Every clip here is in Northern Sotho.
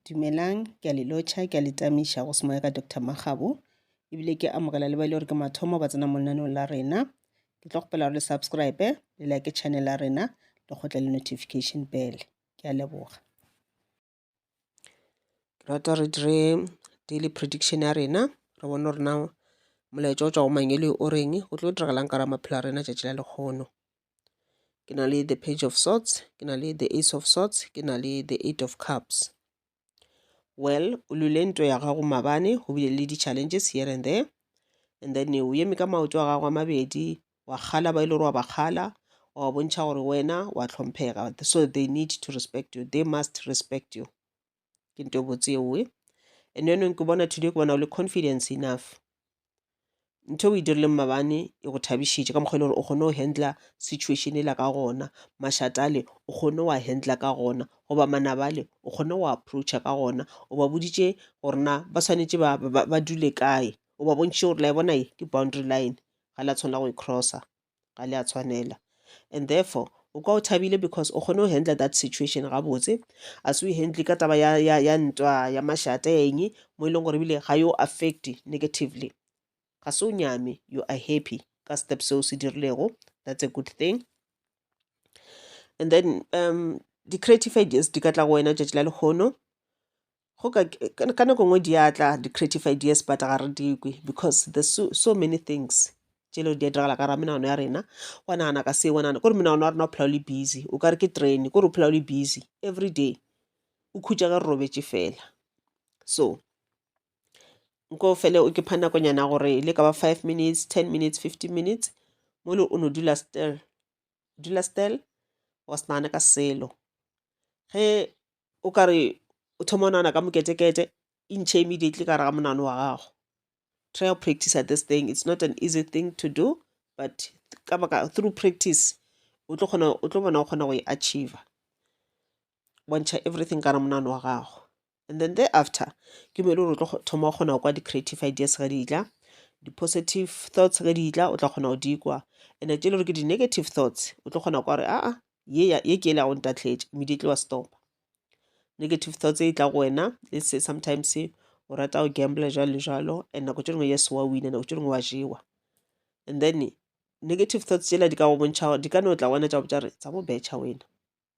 Dumelang, ke a le lotšha, ke a le tamiša go semoya ka Doctor Makgabo, ebile ke amogela le ba e le gore ke mathomo ba tsena mo lenaneong la rena. Ke tlo kgopela gore le subscribe, le like channel ya rena, le kgotle le notification bell. Ke a leboga. Ke rata re dire daily prediction ya rena, re bone gore na molaetša o tšwa go mang e le o reng, go tlo diragalang ka ra maphelo a rena tšatši la lekgono. ke na le the page of sorts ke na le the ace of sorts ke na le the eight of cups well o lule ntwa ya gago mabane go bile le di-challenges here and there and then o eme ka maoto a gago a mabedi wa kgala ba e le gore wa ba kgala wa bontšha gore wena wa hlomphega so they need to respect you they must respect you ke nto botse ewe and yanong ke bona today ke bona o le confidence enough ntho o e dirileng mabane e go thabišitše ka mokgwa e le gore o kgone go handla situation e la ka gona mašatale o kgone wa handla ka gona goba manabale o kgone go approacha ka gona o ba boditše gore na ba swanetše ba, ba, ba dule kae o ba bontšhe gore la e bona e ke boundary line ga la tshwanela go e crossa ga le a tshwanela and therefore o kwa o thabile because o kgone go handle that situation gabotse a se o handle ka taba ya, ya, ya ntwa ya mašata ya eng mo e leng gore ebile ga yo affect negatively ga se o nyame you are happy ka step seo se dirilego that's a good thing and then um di-creative ideas di ka tla go wena tšatši la lekgono go ka ka nako nngwe di a tla di-creative ideas but ga re di kwe because there's so, so many things tše le di a diragala ka ra menagano ya rena wa nagana ka se wa nagana kore menagano ya rena o phela o le busy o ka re ke train kore o phela o le busy every day o khutša ka re robetše fela so nko fele o ke pha nakonyana gore le ka ba five minutes ten minutes fifteen minutes mo le o no dula still dula still wa se nagane ka selo ge o ka re o thoma o nagana ka moketekete e ntšhe immediately ka gare ga monagano wa gago try go practice this thing it's not an easy thing to do but ka baka through practice o tlo kgona o tlo bona o kgona go e achiever bontšha everything ka gare ga monagano wa gago and then there after ke mo e le gore o tlo thoma o kgona go kwa di-creative ideas ge di tla di-positive thoughts ge di tla o tla kgona go di kwa and tse e le gore ke di-negative thoughts o tlo kgona kwa gore aa ye ke ele ya go ntatletše immediately wa stopa negative thoughts e tla go wena let's say sometimes o rata go gambler jalo le jalo and nako tše dingwe yes wa wina nako tše dingwe wa jewa and then negative thoughts tsela di ka go bontšha gore di ka no tla wena tša botša re tsa mo betšha wena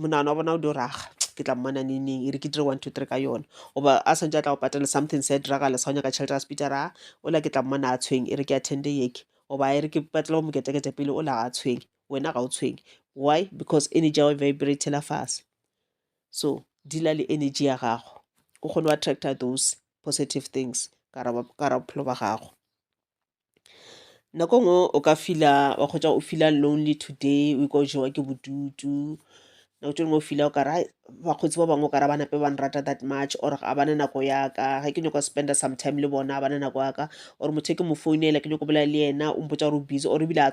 monano wa bona o dio raga ke tla mmona neng neng e re ke dire one two three ka yona goba a swantse a tla go patela something se a diragala sa go nyaka tšhelete a sepita ra o la ke tla mmona a tshweng e re ke attende yeke goba e re ke patela go moketekete pele o la ga a tshweng wena ga o tshweng why because energy ya go vibratela fase so dila le energy ya gago o kgone go attracta those positive things ka ra bophelo ba gago nako ngwe o ka feel-a wa kgotsa o feel-a lonely today o ikwa o jewa ke bodutu nako tše dingwe o feel-a o kare hai bakgotsi ba bangwe o kare ga ba napa ba nrata that much or ga ba na nako ya ka ge ke nyaka go spend-a some time le bona ga ba na nako ya ka or motho e ke mo founela ke nyaka go bolela le yena o mpotša gore o busy or ebile a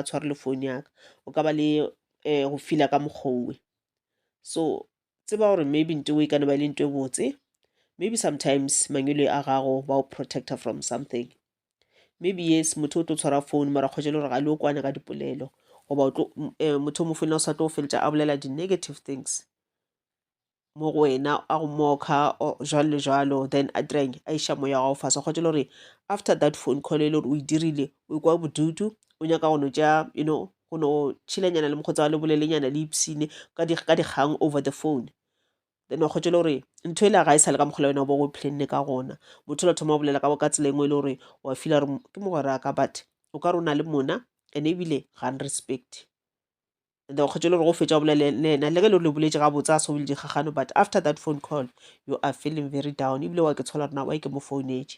tshware le phone ya ka o ka ba le go feel-a ka mokgwa owe so tseba gore maybe nto e kana ba e le nto e botse maybe sometimes mangwele a gago ba o protector from something maybe yes motho o tlo tshwara phone mara kgwetse le gore ga le o kwane ka dipolelo goba eh, motho o mo founela o sa tlo go feletša a bolela di-negative things mo go wena a go moka jalo le jalo then a direng a iša moya wa gago fase kgwetse le gore after that phone call e le gore o e dirile o kwa bodutu o nyaka go no tša you know go no tšhilanyana le mokgotsa wa le bolelenyana le ipsine ka dikgang over the phone then wa kgotsa le gore ntho ele ga e sale ka mokgola wena o bo go plenne ka gona motho la thoma o bolela ka tsela engwe e le gore wa fila gore ke mogwera ka but o ka re o na le mona and ebile ga n respect and then wa kgotsa le gore go fetsa o bolele le ena le ge le gore le boletse ga botsa a sobile dikgagano but after that phone call you are feeling very down ebile wa ke tshola rena wa ke mo founetse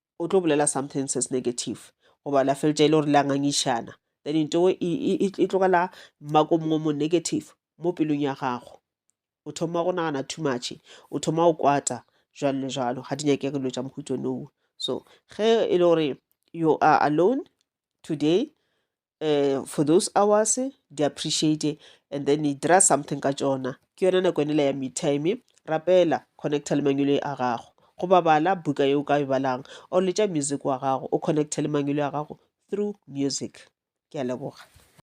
o tlo bolela something se se negative goba la feletša e le gore le a ngangišana then into e, e, e, e, e tlogela mmako mongwe mo negative mo pelong ya gago o thoma go nagana too much o thoma go kwata jalo le jalo ga di nyake dilo tša mohuto nowo so ge e le gore you are alone today um for those hours di appreciate and then e dira something ka tsona ke yona nako enela ya me time rapela connecta le mangwelo a gago go babala buka yeo ka e balang or letša music wa gago o connecte le mangwelo a gago through music ke a leboga